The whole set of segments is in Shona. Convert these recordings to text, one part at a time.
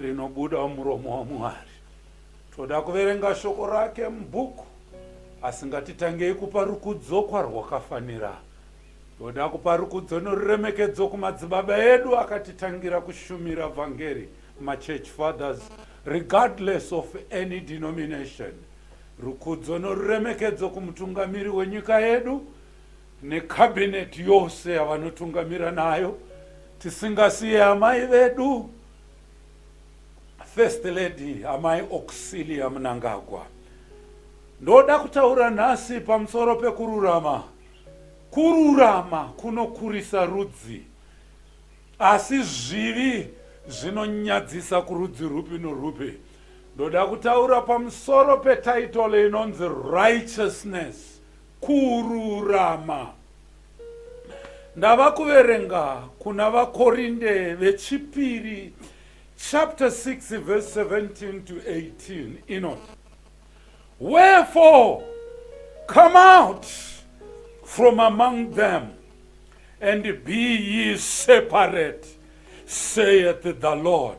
rinobuda mumuromo waMwari. Toda kuverenga shoko rake mubhuku, asi ngatitangei kupa rukudzo kwarwakafanira. Toda kupa rukudzo noruremekedzo kumadzibaba edu akatitangira kushumira vhangeri, machurch fathers, regardless of any denomination. Rukudzo noruremekedzo kumutungamiri wenyika yedu, necabinet yose yavanotungamira nayo tisingasiye amai vedu first lady amai auxilia munangagwa ndoda kutaura nhasi pamusoro pekururama kururama kunokurisa rudzi asi zvivi zvinonyadzisa kurudzi rupi norupi ndoda kutaura pamusoro petaitolo inonzi righteousness Kururama. Ndava kuverenga kuna vaKorinde vechipiri chapter 6 verse 17 to 18 inoti Wherefore come out from among them and be ye separate saith the Lord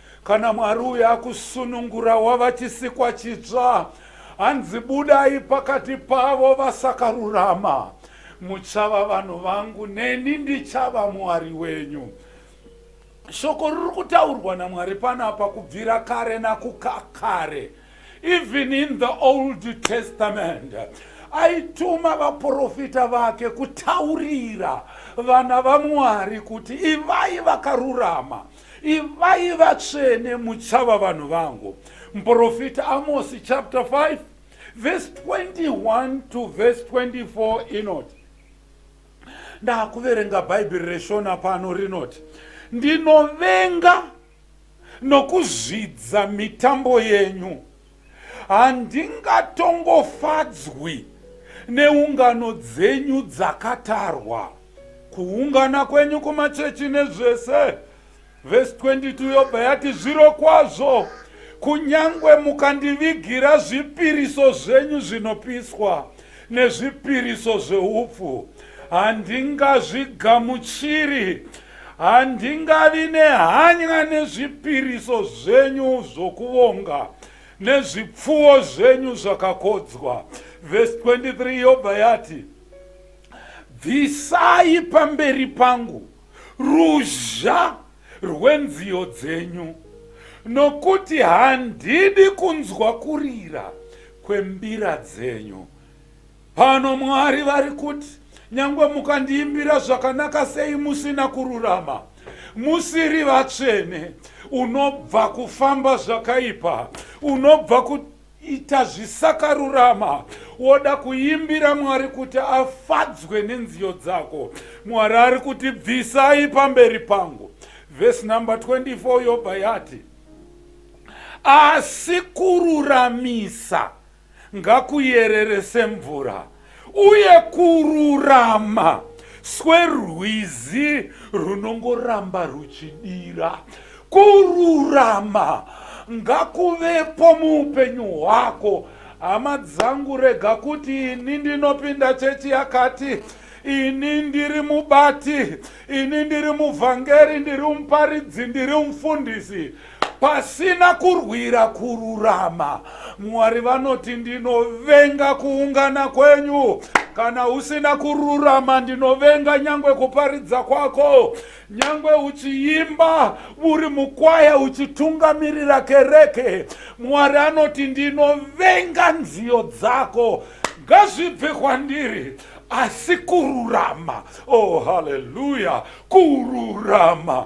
Kana Mwari uyo akusunungura wava chisikwa chitsva, hanzi budai pakati pavo vasakarurama. Muchava vanhu vangu, neni ndichava Mwari wenyu. Shoko riri kutaurwa naMwari panapa kubvira kare nakukakare, even in the Old Testament aituma vaprofita vake kutaurira vana vamwari kuti ivai vakarurama Ivai vatsvene muchava vanhu vangu. Muprofita Amosi chapter 5 verse 21 to verse 24 inoti, ndakuverenga bhaibheri reshona pano rinoti, ndinovenga nokuzvidza mitambo yenyu Handingatongofadzwi neungano dzenyu dzakatarwa, kuungana kwenyu kumachechi nezvese. Vhesi 22 yobva yati, Zvirokwazvo, kunyange mukandivigira zvipiriso zvenyu zvinopiswa nezvipiriso zveupfu, handingazvigamuchiri Handingavi nehanya nezvipiriso zvenyu zvokuvonga nezvipfuwo zvenyu zvakakodzwa. Vhesi 23 yobva yati, Bvisai pamberi pangu ruzha rwenziyo dzenyu, nokuti handidi kunzwa kurira kwembira dzenyu. Pano Mwari vari kuti, Nyangwe mukandiimbira zvakanaka sei musina kururama, musiri vatsvene, unobva kufamba zvakaipa, unobva ku ita zvisakarurama woda kuimbira mwari kuti afadzwe nenziyo dzako mwari ari kuti bvisai pamberi pangu vhesi number 24 yobva yati asi kururamisa ngakuyerere semvura, uye kururama swerwizi runongoramba ruchidira. Kururama ngakuvepo muupenyu hwako. Hama dzangu, rega kuti ini ndinopinda chechi yakati ini ndiri mubati, ini ndiri muvhangeri, ndiri muparidzi, ndiri mufundisi. Pasina kurwira kururama, Mwari vanoti, Ndinovenga kuungana kwenyu. Kana usina kururama, ndinovenga nyangwe kuparidza kwako. Nyangwe uchiimba uri mukwaya uchitungamirira kereke, Mwari anoti, Ndinovenga nziyo dzako. Ngazvibve kwandiri asi kururama. Oh, haleluya! Kururama.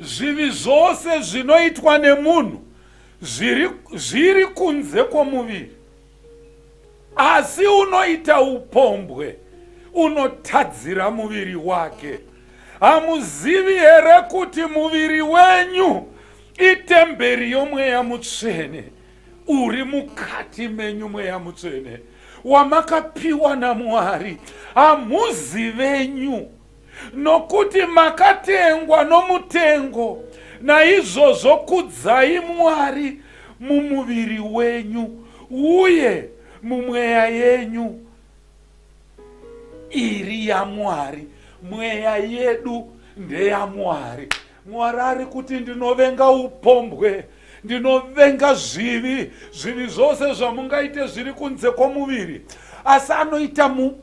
Zvivi zvose zvinoitwa nemunhu zviri, zviri kunze kwomuviri, asi unoita upombwe unotadzira muviri wake. Hamuzivi here kuti muviri wenyu itemberi yomweya mutsvene uri mukati menyu, mweya mutsvene wamakapiwa naMwari, hamuzi venyu? Nokuti makatengwa nomutengo, naizvozvo kudzai Mwari mumuviri wenyu uye mumweya yenyu iri yaMwari. Mweya yedu ndeyaMwari. Mwari ari kuti ndinovenga upombwe, ndinovenga zvivi, zvivi zvose zvamungaite zviri kunze kwomuviri, asi anoita mu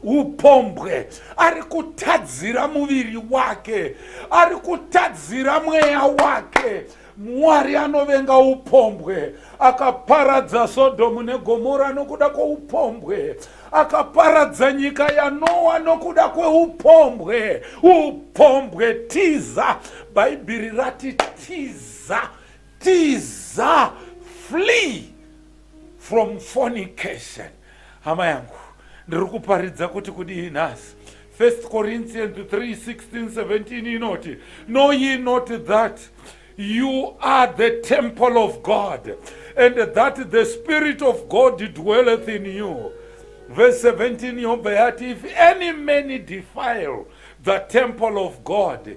upombwe ari kutadzira muviri wake ari kutadzira mweya wake mwari anovenga upombwe akaparadza sodhomu negomora nokuda kweupombwe akaparadza nyika yanowa nokuda kweupombwe upombwe tiza bhaibheri rati tiza tiza flee From fornication. Hama yangu, ndiri kuparidza kuti kudii nhasi? 1 Corinthians 3, 16, 17 inoti, Know ye not that you are the temple of God, and that the Spirit of God dwelleth in you. Verse 17 yobva yati, If any man defile the temple of God,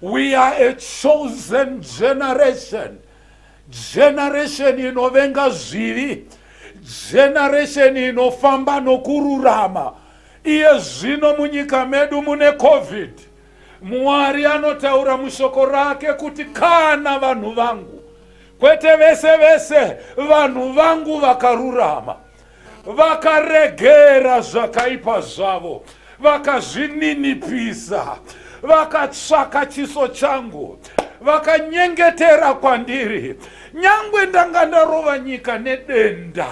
We are a chosen generation. Generation inovenga zvivi. Generation inofamba nokururama. Iye zvino munyika medu mune covid. Mwari anotaura mushoko rake kuti kana vanhu vangu kwete vese vese vanhu vangu vakarurama vakaregera zvakaipa zvavo vakazvininipisa vakatsvaka chiso changu vakanyengetera kwandiri nyangwe ndanga ndarova nyika nedenda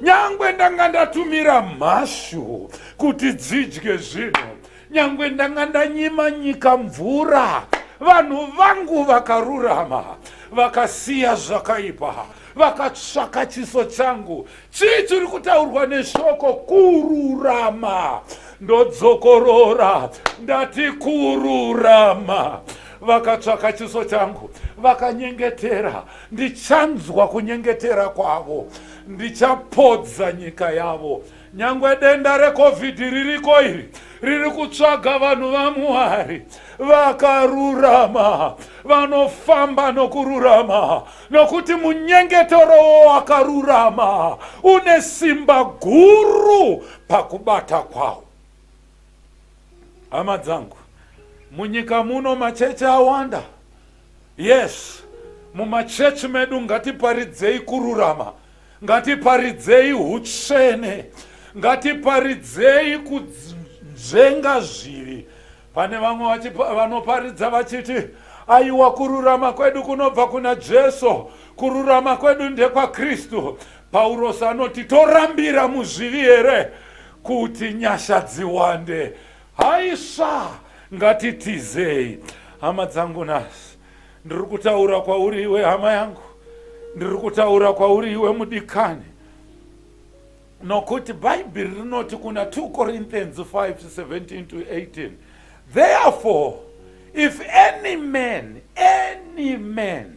nyangwe ndanga ndatumira mhashu kuti dzidye zvinhu nyangwe ndanga ndanyima nyika mvura vanhu vangu vakarurama vakasiya zvakaipa vakatsvaka chiso changu chii chiri kutaurwa neshoko kururama ndodzokorora ndati kururama vakatsvaka chiso changu vakanyengetera ndichanzwa kunyengetera kwavo ndichapodza nyika yavo Nyangwe denda reCovid ririko iri riri kutsvaga vanhu vaMwari vakarurama vanofamba nokururama nokuti munyengetero wakarurama une simba guru pakubata kwawo. Hama dzangu, munyika muno machechi awanda Yes mumachurch medu ngatiparidzei kururama ngatiparidzei hutsvene ngatiparidzei kunzvenga zvivi pane vamwe vanoparidza vachiti aiwa kururama kwedu kunobva kuna jesu kururama kwedu ndekwakristu paurosi anoti torambira muzvivi here kuti nyasha dziwande Haisva ngatitizei hama dzangu nhasi ndiri kutaura kwauri iwe hama yangu ndiri kutaura kwauri iwe mudikani nokuti bhaibheri rinoti kuna 2 corinthians 5 17 to 18 therefore if any man any man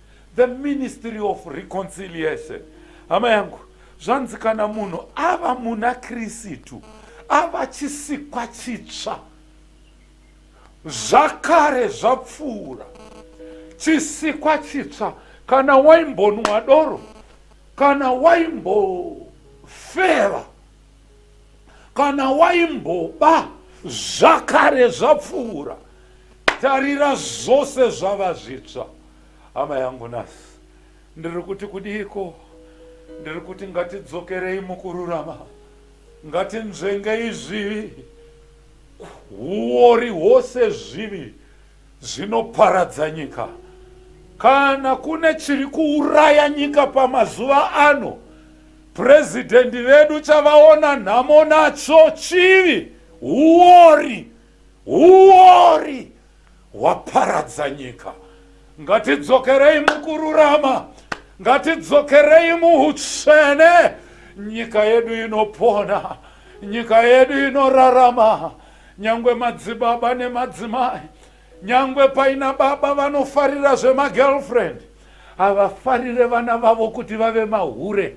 The ministry of reconciliation hama yangu zvanzi kana munhu ava muna krisitu ava chisikwa chitsva zvakare zvapfuura chisikwa chitsva kana waimbonwa doro kana waimbofeva kana waimboba zvakare zvapfuura tarira zvose zvava zvitsva hama yangu nhasi ndiri kuti kudiiko ndiri kuti ngatidzokerei mukururama ngatinzvengei zvivi huori hwose zvivi Zvinoparadza nyika. Kana kune chiri kuuraya nyika pamazuva ano, purezidhendi vedu chavaona nhamo nacho chivi, huori, huori hwaparadza nyika. Ngatidzokerei mukururama, ngatidzokerei muutsvene. Nyika yedu inopona, nyika yedu inorarama, Nyangwe madzibaba nemadzimai nyangwe paina baba vanofarira zvemagirlfriend havafarire vana vavo kuti vave mahure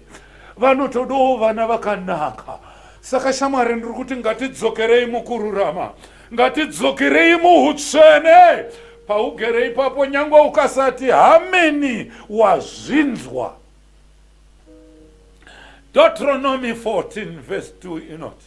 vanotodawo vana vakanaka saka shamwari ndiri kuti ngatidzokerei mukururama ngatidzokerei muutsvene paugere ipapo nyangwe ukasati hameni wazvinzwa deuteronomy 14 vhesi 2 inoti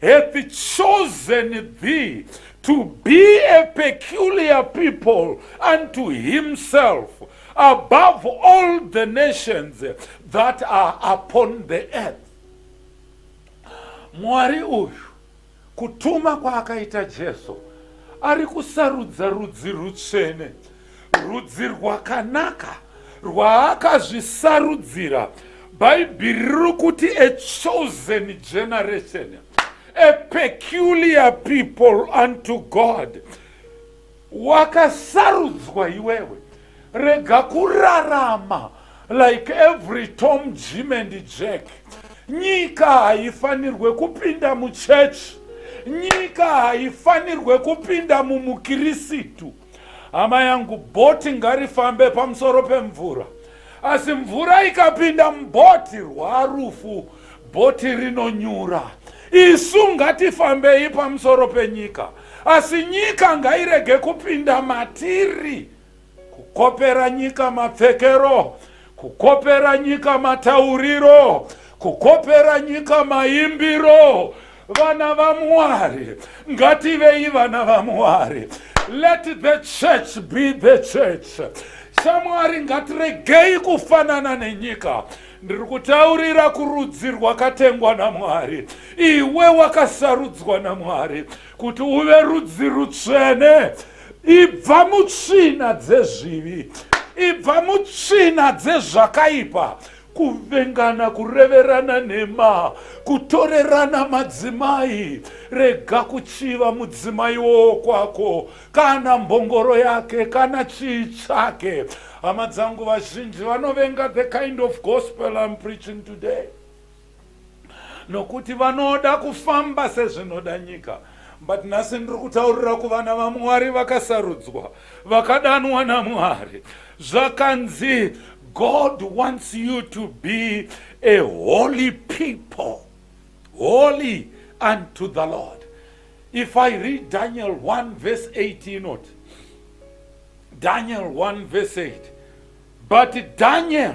hath chosen thee to be a peculiar people unto himself above all the nations that are upon the earth. Mwari uyu kutuma kwaakaita Jesu ari kusarudza rudzi rutsvene Rudzi rwakanaka rwaakazvisarudzira. Bhaibheri riri kuti a chosen generation, a peculiar people unto God. Wakasarudzwa iwewe. Rega kurarama like every Tom, Jim and Jack. Nyika haifanirwe kupinda muchechi. Nyika haifanirwe kupinda mumukirisitu. Hama yangu, bhoti ngarifambe pamusoro pemvura, asi mvura ikapinda mubhoti rwarufu, bhoti rinonyura. Isu ngatifambei pamusoro penyika, asi nyika ngairege kupinda matiri. Kukopera nyika mapfekero Kukopera nyika matauriro, kukopera nyika maimbiro. Vana vaMwari, ngativei vana vaMwari. Let the church be the church. Shamwari, ngatiregei kufanana nenyika ndiri kutaurira kurudzi rwakatengwa namwari iwe wakasarudzwa namwari kuti uve rudzi rutsvene ibva mutsvina dzezvivi ibva mutsvina dzezvakaipa kuvengana kureverana nhema kutorerana madzimai rega kuchiva mudzimai wokwako kana mbongoro yake kana chii chake hama dzangu vazhinji vanovenga the kind of gospel im preaching today nokuti vanoda kufamba sezvinoda nyika but nhasi ndiri kutaurira kuvana vamwari vakasarudzwa vakadanwa namwari zvakanzi god wants you to be a holy people holy unto the lord if i read daniel 1 verse 8 inoti daniel 1 verse 8 but daniel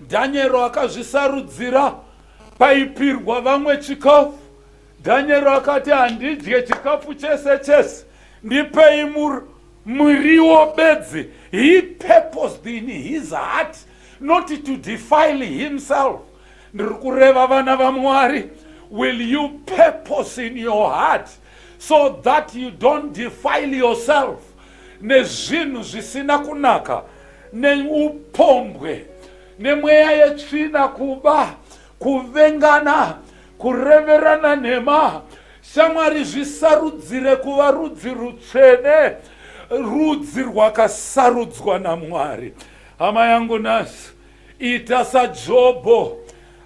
Dhanyero akazvisarudzira paipirwa vamwe chikafu. Dhanyero akati, Handidye chikafu chese chese, ndipei muriwo bedzi. He purposed in his heart not to defile himself. Ndiri kureva vana vaMwari, will you purpose in your heart so that you don't defile yourself nezvinhu zvisina kunaka neupombwe nemweya yetsvina kuba kuvengana kureverana nhema shamwari zvisarudzire kuva rudzi rutsvene rudzi rwakasarudzwa namwari hama yangu nhasi ita sajobho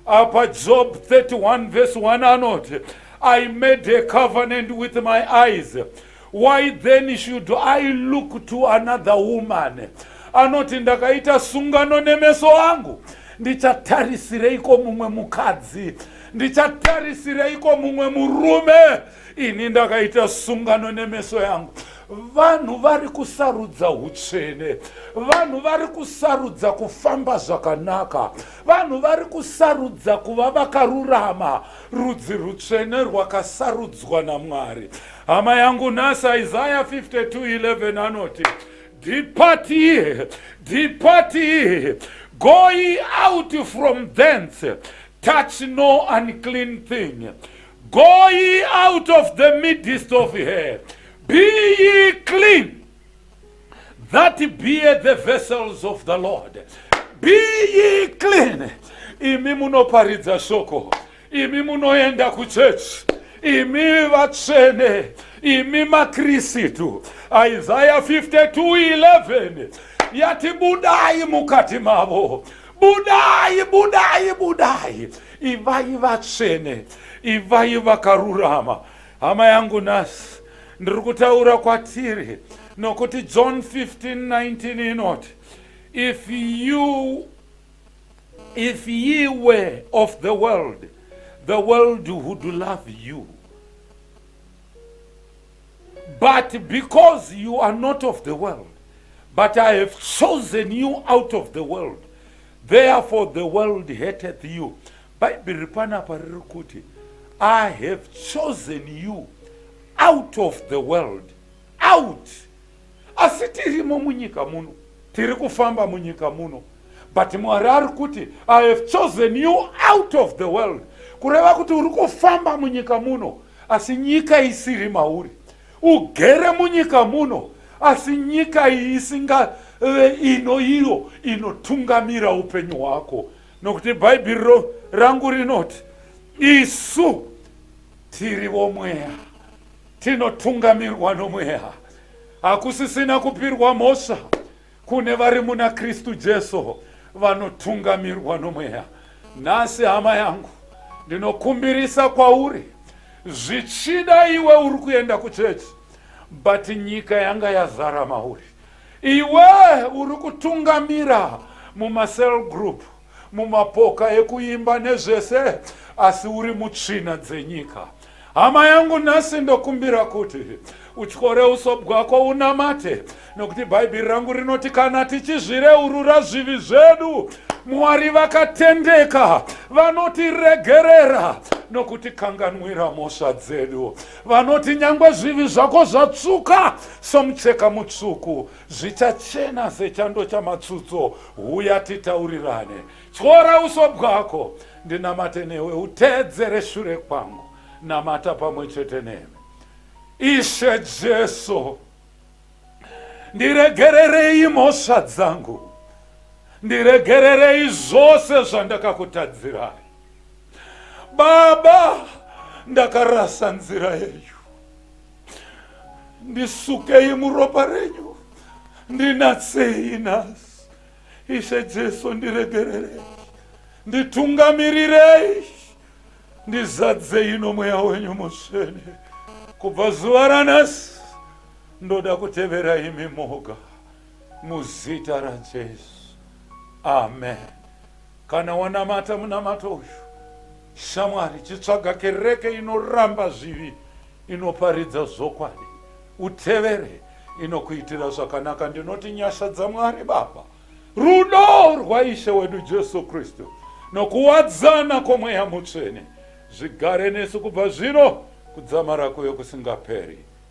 apa job 31 vese 1 anoti i made a covenant with my eyes why then should i look to another woman anoti ndakaita sungano nemeso angu ndichatarisereiko mumwe mukadzi ndichatarisereiko mumwe murume ini ndakaita sungano nemeso yangu vanhu vari kusarudza utsvene vanhu vari kusarudza kufamba zvakanaka Vanhu vari kusarudza kuva vakarurama, rudzi rutsvene rwakasarudzwa naMwari. Hama yangu nhasi, Isaya 52:11 anoti, Depart ye, depart ye, go ye out from thence, touch no unclean thing. Go ye out of the midst of her, be ye clean. that be the vessels of the lord be ye clean imi munoparidza shoko imi munoenda kuchechi imi vatsvene imi makristu isaya 52:11 yati budai mukati mavo budai budai budai ivai vatsvene ivai vakarurama Hama yangu nhasi ndiri kutaura kwatiri nokuti John 15:19 inoti if you if ye were of the world the world would love you but because you are not of the world but I have chosen you out of the world therefore the world hateth you Bhaibheri riri panapa riri kuti I have chosen you out of the world out asi tirimo munyika muno tiri kufamba munyika muno but mwari ari kuti i have chosen you out of the world kureva kuti uri kufamba munyika muno asi nyika isiri mauri ugere munyika muno asi nyika iyi isingave ino iyo inotungamira upenyu hwako nokuti bhaibhiri rangu rinoti isu tiri vomweya tinotungamirwa nomweya hakusisina kupirwa mhosva kune vari muna kristu jesu vanotungamirwa nomweya nhasi hama yangu ndinokumbirisa kwauri zvichida iwe uri kuenda kuchechi but nyika yanga yazara mauri Iwe uri kutungamira muma cell group, mumapoka ekuimba nezvese asi uri mutsvina dzenyika. Hama yangu nhasi ndokumbira kuti utyore uso bwako unamate nokuti bhaibheri rangu rinoti kana tichizvireurura zvivi zvedu mwari vakatendeka vanotiregerera nokutikanganwira mhosva dzedu Vanoti nyangwe zvivi zvako zvatsvuka somucheka mutsvuku, zvichachena sechando chamatsutso. Huya titaurirane, tyora uso bwako, ndinamate newe, uteedzere shure kwangu. Namata pamwe chete nemi. Ishe Jesu, ndiregererei mhosva dzangu, ndiregererei zvose zvandakakutadzirai. Baba, ndakarasa nzira yenyu, ndisukei muropa renyu, ndinatsei nhasi. Ishe Jesu, ndiregererei, nditungamirirei, ndizadzei nomweya wenyu mutsvene. Kubva zuva ranhasi ndoda kutevera imi moga. Muzita raJesu. Amen. Kana wanamata munamato uyu, shamwari, chitsvaga kereke inoramba zvivi, inoparidza zvokwadi, utevere inokuitira zvakanaka. Ndinoti nyasha dzaMwari Baba, rudo rwaIshe wedu Jesu Kristu, nokuwadzana kwomweya mutsvene zvigare nesu kubva zvino kudzamara kuyo kusingaperi.